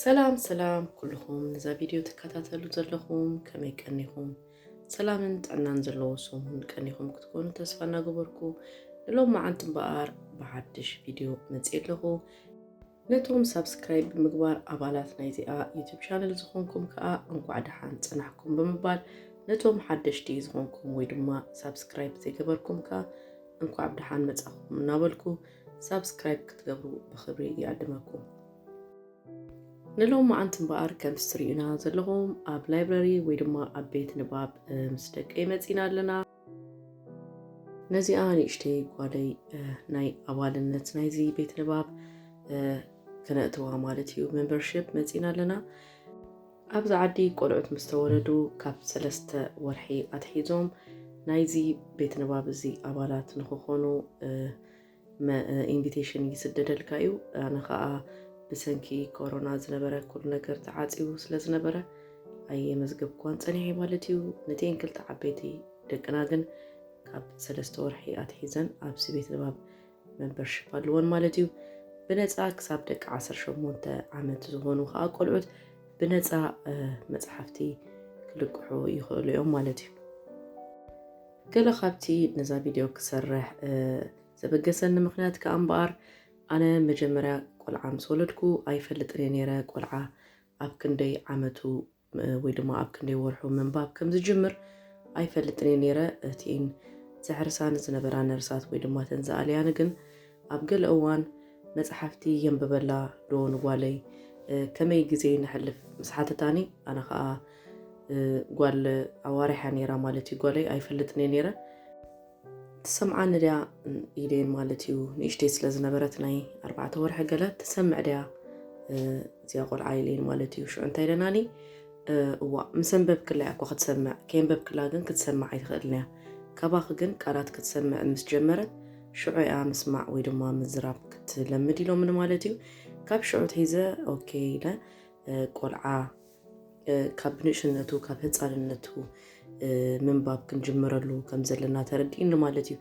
ሰላም ሰላም ኩልኹም ነዛ ቪድዮ ትከታተሉ ዘለኹም ከመይ ቀኒኹም ሰላምን ጥዕናን ዘለዎ ሰሙን ቀኒኹም ክትኮኑ ተስፋ እናገበርኩ ንሎም መዓንቲ እምበኣር ብሓድሽ ቪድዮ መፅእ ኣለኹ ነቶም ሳብስክራይብ ብምግባር ኣባላት ናይዚኣ ዩቱብ ቻነል ዝኾንኩም ከኣ እንኳዕ ደሓን ጸናሕኩም ብምባል ነቶም ሓደሽቲ ዝኾንኩም ወይ ድማ ሳብስክራይብ ዘይገበርኩም ከኣ እንኳዕ ብደሓን መጻኹም እናበልኩ ሳብስክራይብ ክትገብሩ ብኽብሪ ይዕድመኩም። ንሎማዓንቲ እምበኣር ከምቲ ትርእዩና ዘለኹም ኣብ ላይብረሪ ወይ ድማ ኣብ ቤት ንባብ ምስ ደቀይ መጺና ኣለና። ነዚኣ ንእሽተይ ጓለይ ናይ ኣባልነት ናይዚ ቤት ንባብ ክነእትዋ ማለት እዩ ሜምበርሽፕ መፂና ኣለና ኣብዚ ዓዲ ቆልዑት ምስ ተወለዱ ካብ ሰለስተ ወርሒ ኣትሒዞም ናይዚ ቤት ንባብ እዚ ኣባላት ንክኾኑ ኢንቪቴሽን ይስደደልካ እዩ ኣነ ከኣ ብሰንኪ ኮሮና ዝነበረ ኩሉ ነገር ተዓጽዩ ስለ ዝነበረ ኣየመዝገብኳን ጸኒሐ ማለት እዩ ነቲኤን ክልተ ዓበይቲ ደቅና ግን ካብ ሰለስተ ወርሒ ኣትሒዘን ኣብዚ ቤት ንባብ መምበርሽፕ ኣለዎን ማለት እዩ ብነፃ ክሳብ ደቂ 18 ዓመት ዝኾኑ ከዓ ቆልዑት ብነፃ መፅሓፍቲ ክልቅሑ ይኽእሉ እዮም ማለት እዩ። ገለ ካብቲ ነዛ ቪድዮ ክሰርሕ ዘበገሰኒ ምኽንያት ከኣ እምበኣር፣ ኣነ መጀመርያ ቆልዓ ምስ ወለድኩ ኣይፈልጥን እየ ነይረ፣ ቆልዓ ኣብ ክንደይ ዓመቱ ወይ ድማ ኣብ ክንደይ ወርሑ ምንባብ ከም ዝጅምር ኣይፈልጥን እየ ነይረ፣ እቲን ዘሕርሳኒ ዝነበራ ነርሳት ወይ ድማ እተን ዝኣልያኒ ግን ኣብ ገለ እዋን መጽሓፍቲ የንብበላ ዶ ንጓለይ ከመይ ግዜ ነሕልፍ ምስ ሓተታኒ ኣነ ከኣ ጓል ኣዋሪሓ ነይራ ማለት እዩ ጓለይ ኣይፈልጥን እየ ነይረ ትሰምዓኒ ድያ ኢለየን ማለት እዩ ንእሽተይ ስለ ዝነበረት ናይ ኣርባዕተ ወርሒ ገለ ትሰምዕ ድያ እዚኣ ቆልዓ ኢለየን ማለት እዩ ሽዑ እንታይ ኢለናኒ እዋ ምስ ኣንበብክላ እኮ ክትሰምዕ ከየንበብክላ ግን ክትሰምዕ ኣይትኽእልን እያ ካባኺ ግን ቃላት ክትሰምዕ ምስ ጀመረት ሽዑ እያ ምስማዕ ወይ ድማ ምዝራብ ክትለምድ ኢሎምኒ ማለት እዩ ካብ ሽዑ ትሒዘ ኦኬ ኢለ ቆልዓ ካብ ንእሽነቱ ካብ ህፃንነቱ ምንባብ ክንጅምረሉ ከም ዘለና ተረዲእኒ ማለት እዩ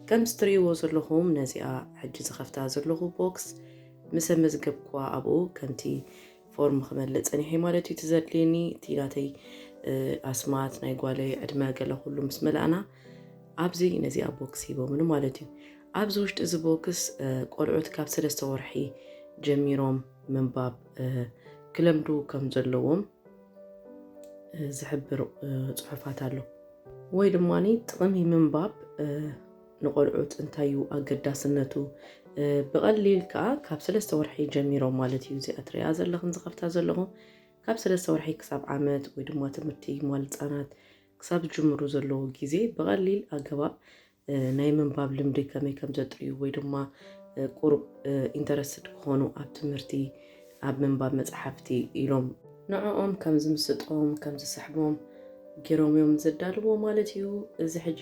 ከምዚ ትርእይዎ ዘለኹም ነዚኣ ሕጂ ዝኸፍታ ዘለኹ ቦክስ ምስ ኣመዝገብኳ ኣብኡ ከምቲ ፎርም ክመልእ ፀኒሐ ማለት እዩ ትዘድልየኒ እቲ ናተይ ኣስማት ናይ ጓለይ ዕድመ ገለ ኩሉ ምስ መላእና ኣብዚ ነዚኣ ቦክስ ሂቦምኒ ማለት እዩ ኣብዚ ውሽጢ እዚ ቦክስ ቆልዑት ካብ ሰለስተ ወርሒ ጀሚሮም ምንባብ ክለምዱ ከም ዘለዎም ዝሕብር ፅሑፋት ኣሎ ወይ ድማ ጥቕሚ ምንባብ ንቆልዑት እንታይ እዩ ኣገዳስነቱ ብቐሊል ከዓ ካብ ሰለስተ ወርሒ ጀሚሮም ማለት እዩ እዚኣ ትሪኣ ዘለኽን ዝኸፍታ ዘለኹም ካብ ሰለስተ ወርሒ ክሳብ ዓመት ወይ ድማ ትምህርቲ ሟል ህፃናት ክሳብ ዝጅምሩ ዘለዎ ግዜ ብቐሊል ኣገባብ ናይ ምንባብ ልምዲ ከመይ ከም ዘጥርዩ ወይ ድማ ቁሩብ ኢንተረስትድ ክኾኑ ኣብ ትምህርቲ ኣብ ምንባብ መጽሓፍቲ ኢሎም ንዕኦም ከም ዝምስጦም ከም ዝስሕቦም ጌሮም እዮም ዘዳልዎ ማለት እዩ። እዚ ሕጂ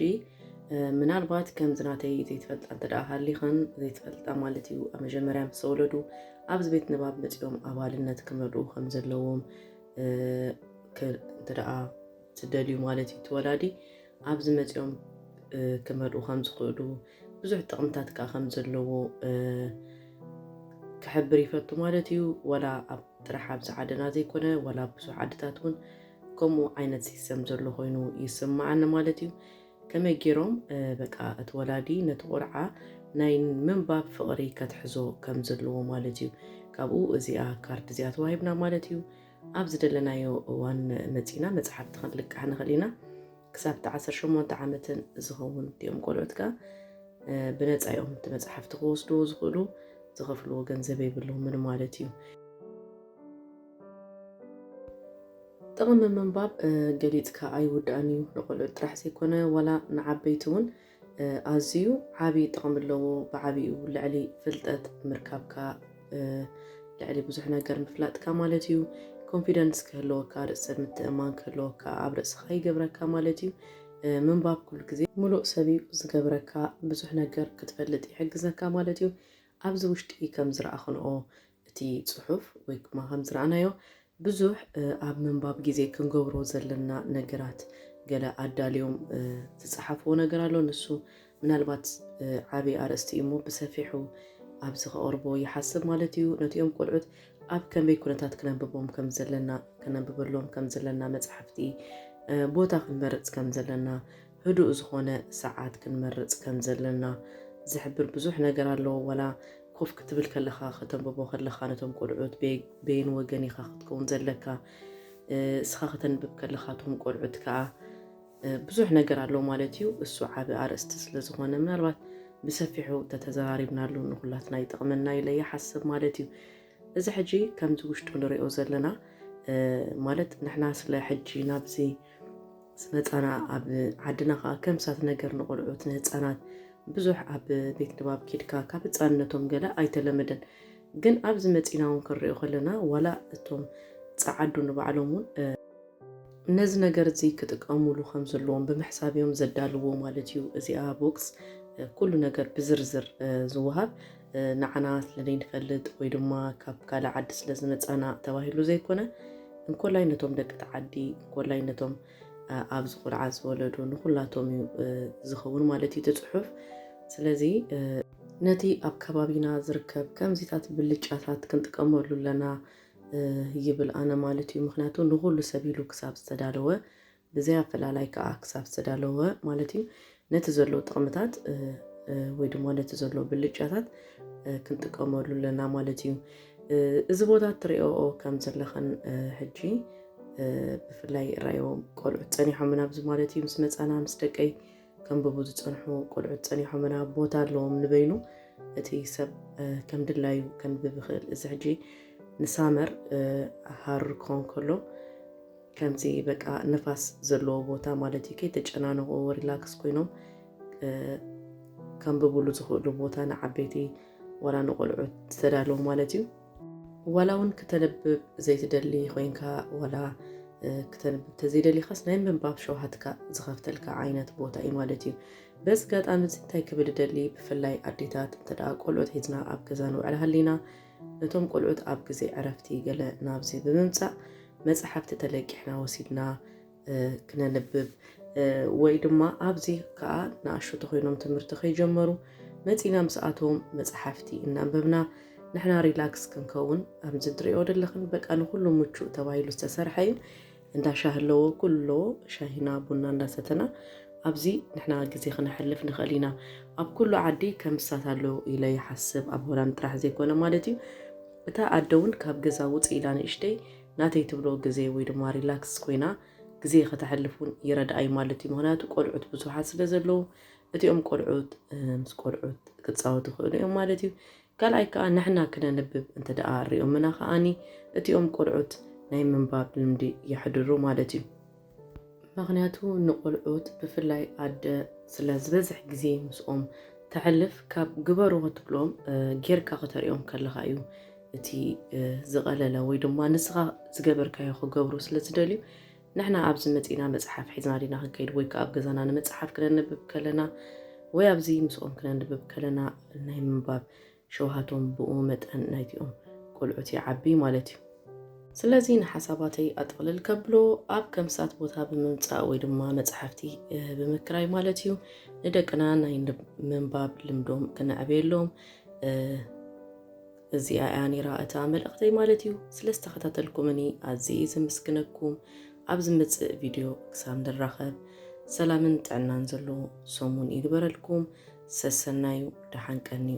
ምናልባት ከምዚ ናተይ ዘይትፈልጣ እንተ ደኣ ሃሊኽን ዘይትፈልጣ ማለት እዩ ኣብ መጀመርያ ምስ ተወለዱ ኣብዚ ቤት ንባብ መጺኦም ኣባልነት ክመልኡ ከም ዘለዎም እንተ ደኣ ትደልዩ ማለት እዩ። እቲ ወላዲ ኣብዚ መጺኦም ክመልኡ ከም ዝኽእሉ ብዙሕ ጥቕምታት ከዓ ከም ዘለዎ ክሕብር ይፈቱ ማለት እዩ። ወላ ኣብ ጥራሕ ኣብዚ ዓድና ዘይኮነ ወላ ኣብ ብዙሕ ዓድታት እውን ከምኡ ዓይነት ሲስተም ዘሎ ኮይኑ ይስማዓኒ ማለት እዩ። ከመይ ገይሮም በቃ እቲ ወላዲ ነቲ ቆልዓ ናይ ምንባብ ፍቕሪ ከትሕዞ ከም ዘለዎ ማለት እዩ። ካብኡ እዚኣ ካርድ እዚኣ ተዋሂብና ማለት እዩ። ኣብ ዝደለናዮ እዋን መጺእና መጽሓፍቲ ክንልቅሕ ንኽእል ኢና። ክሳብ እቲ ዓሰርተ ሸሞንተ ዓመትን ዝኸውን እቲኦም ቆልዑት ከኣ ብነጻ እዮም እቲ መጽሓፍቲ ክወስድዎ ዝኽእሉ፣ ዝኸፍልዎ ገንዘብ የብሎምን ማለት እዩ። ጥቕሚ ምንባብ ገሊጽካ ኣይውዳእን እዩ፣ ንቆልዑት ጥራሕ ዘይኮነ ዋላ ንዓበይቲ እውን ኣዝዩ ዓቢ ጥቕሚ ኣለዎ ብዓቢኡ ልዕሊ ፍልጠት ምርካብካ ልዕሊ ብዙሕ ነገር ምፍላጥካ ማለት እዩ ኮንፊደንስ ክህልወካ ርእሰ ምትእማን ክህልወካ ኣብ ርእስኻ ይገብረካ ማለት እዩ ምንባብ ኩሉ ግዜ ምሉእ ሰብ እዩ ዝገብረካ ብዙሕ ነገር ክትፈልጥ ይሕግዘካ ማለት እዩ ኣብዚ ውሽጢ ከም ዝረኣኽንኦ እቲ ጽሑፍ ወይ ክማ ከም ዝረኣናዮ ብዙሕ ኣብ ምንባብ ግዜ ክንገብሮ ዘለና ነገራት ገለ ኣዳልዮም ዝጸሓፍዎ ነገር ኣሎ ንሱ ምናልባት ዓቢ ኣርእስቲ እዩ እሞ ብሰፊሑ ኣብዚ ከቕርቦ ይሓስብ ማለት እዩ ነቲኦም ቆልዑት ኣብ ከመይ ኩነታት ክነንብቦም ከም ዘለና ክነንብበሎም ከም ዘለና መጽሓፍቲ ቦታ ክንመርጽ ከም ዘለና ህዱእ ዝኾነ ሰዓት ክንመርጽ ከም ዘለና ዝሕብር ብዙሕ ነገር ኣሎ። ዋላ ኮፍ ክትብል ከለኻ፣ ከተንብቦ ከለኻ ነቶም ቆልዑት በየን ወገን ኢኻ ክትከውን ዘለካ፣ እስኻ ከተንብብ ከለኻ እቶም ቆልዑት ከኣ ብዙሕ ነገር ኣሎ ማለት እዩ። እሱ ዓቢ ኣርእስቲ ስለ ዝኾነ ምናልባት ብሰፊሑ ተተዘራሪብናሉ ንኹላትና ይጠቕመና ኢለ ይሓስብ ማለት እዩ። እዚ ሕጂ ከምዚ ውሽጡ ንሪኦ ዘለና ማለት ንሕና ስለ ሕጂ ናብዚ ህፃና ኣብ ዓድና ከዓ ከም ሳት ነገር ንቆልዑት ንህፃናት ብዙሕ ኣብ ቤት ንባብ ኪድካ ካብ ህፃንነቶም ገለ ኣይተለመደን ግን ኣብዚ መፂና እውን ክንሪኦ ከለና ዋላ እቶም ፀዓዱ ንባዕሎም እውን ነዚ ነገር እዚ ክጥቀሙሉ ከም ዘለዎም ብምሕሳብ እዮም ዘዳልዎ ማለት እዩ። እዚኣ ቦክስ ኩሉ ነገር ብዝርዝር ዝወሃብ ንዓና ስለዘይንፈልጥ ወይ ድማ ካብ ካልእ ዓዲ ስለዝመፃና ተባሂሉ ዘይኮነ እንኮላይ ነቶም ደቂ ተዓዲ እንኮላይ ነቶም ኣብዚ ቆልዓ ዝወለዱ ንኩላቶም እዩ ዝኸውን ማለት እዩ ትፅሑፍ ስለዚ ነቲ ኣብ ከባቢና ዝርከብ ከምዚታት ብልጫታት ክንጥቀመሉ ኣለና ይብል ኣነ ማለት እዩ ምክንያቱ ንኩሉ ሰብ ኢሉ ክሳብ ዝተዳለወ ብዘይ ኣፈላላይ ከኣ ክሳብ ዝተዳለወ ማለት እዩ ነቲ ዘሎ ጥቕምታት ወይ ድማ ነቲ ዘሎ ብልጫታት ክንጥቀመሉ ኣለና ማለት እዩ። እዚ ቦታ እትሪኦ ከም ዘለኽን ሕጂ ብፍላይ ራዮ ቆልዑት ፀኒሖምና ኣብዚ ማለት እዩ ምስ መፃና ምስ ደቀይ ከንብቡ ዝፀንሑ ቆልዑት ፀኒሖምና ቦታ ኣለዎም ንበይኑ እቲ ሰብ ከም ድላዩ ከንብብ ይኽእል እዚ ሕጂ ንሳመር ሃር ክኾን ከሎ ከምዚ በቃ ንፋስ ዘለዎ ቦታ ማለት እዩ ከይተጨናነቑ ሪላክስ ኮይኖም ከንብብሉ ዝኽእሉ ቦታ ንዓበይቲ ዋላ ንቆልዑ ዝተዳለዉ ማለት እዩ። ዋላ እውን ክተንብብ ዘይትደሊ ኮይንካ ዋላ ክተንብብ ተዘይደሊኻስ ናይ ምንባብ ሸውሃትካ ዝኸፍተልካ ዓይነት ቦታ እዩ ማለት እዩ። በዚ ኣጋጣሚ እዚ እንታይ ክብል እደሊ ብፍላይ ኣዴታት እንተ ቆልዑት ሒዝና ኣብ ገዛ ንውዕል ሃሊና እቶም ቆልዑት ኣብ ግዜ ዕረፍቲ ገለ ናብዚ ብምምጻእ መጻሕፍቲ ተለቂሕና ወሲድና ክነንብብ ወይ ድማ ኣብዚ ከኣ ንኣሽቱ ኮይኖም ትምህርቲ ከይጀመሩ መጺና ምስ ኣቶም መጻሕፍቲ እናንበብና ንሕና ሪላክስ ክንከውን ኣምዚ ድሪኦ ደለኽን በቃ ንኹሉ ምቹእ ተባሂሉ ዝተሰርሐ እዩ። እንዳ ሻሂ ኣለዎ፣ ኩሉ ኣለዎ፣ ሻሂና ቡና እንዳሰተና ኣብዚ ንሕና ግዜ ክነሕልፍ ንኽእል ኢና። ኣብ ኩሉ ዓዲ ከምሳት ኣሎ ኢለ ይሓስብ፣ ኣብ ሆላንድ ጥራሕ ዘይኮነ ማለት እዩ። እታ ኣደ እውን ካብ ገዛ ውፅእ ኢላ ንእሽተይ ናተይ ትብሎ ግዜ ወይ ድማ ሪላክስ ኮይና ግዜ ከተሕልፍ እውን ይረድኣ እዩ ማለት እዩ። ምኽንያቱ ቆልዑት ብዙሓት ስለ ዘለዉ እቲኦም ቆልዑት ምስ ቆልዑት ክፃወቱ ይኽእሉ እዮም ማለት እዩ። ካልኣይ ከኣ ንሕና ክነንብብ እንተ ደኣ ኣሪኦምና ከኣ እቲኦም ቆልዑት ናይ ምንባብ ልምዲ የሕድሩ ማለት እዩ። ምክንያቱ ንቆልዑት ብፍላይ ኣደ ስለ ዝበዝሕ ግዜ ምስኦም ተሕልፍ ካብ ግበሩ ክትብሎም ጌርካ ክተሪኦም ከለኻ እዩ እቲ ዝቐለለ ወይ ድማ ንስኻ ዝገበርካዮ ክገብሩ ስለ ዝደልዩ ንሕና ኣብዚ መጺእና መጽሓፍ ሒዝና ዲና ክንከይድ ወይ ከኣ ኣብ ገዛና ንመጽሓፍ ክነንብብ ከለና ወይ ኣብዚ ምስኦም ክነንብብ ከለና ናይ ምንባብ ሸውሃቶም ብኡ መጠን ናይቲኦም ቆልዑት ይዓቢ ማለት እዩ። ስለዚ ንሓሳባተይ ኣጥቕልል ከብሎ ኣብ ከምሳት ቦታ ብምምጻእ ወይ ድማ መጽሓፍቲ ብምክራይ ማለት እዩ ንደቅና ናይ ምንባብ ልምዶም ክነዕብየሎም እዚኣ እያ ኔራ እታ መልእኽተይ ማለት እዩ። ስለ ዝተኸታተልኩምኒ ኣዝየ እየ ዘምስግነኩም። ኣብ ዝመጽእ ቪድዮ ክሳብ ንራኸብ ሰላምን ጥዕናን ዘለዎ ሰሙን ይግበረልኩም። ሰሰናዩ ደሓን ቀንዩ።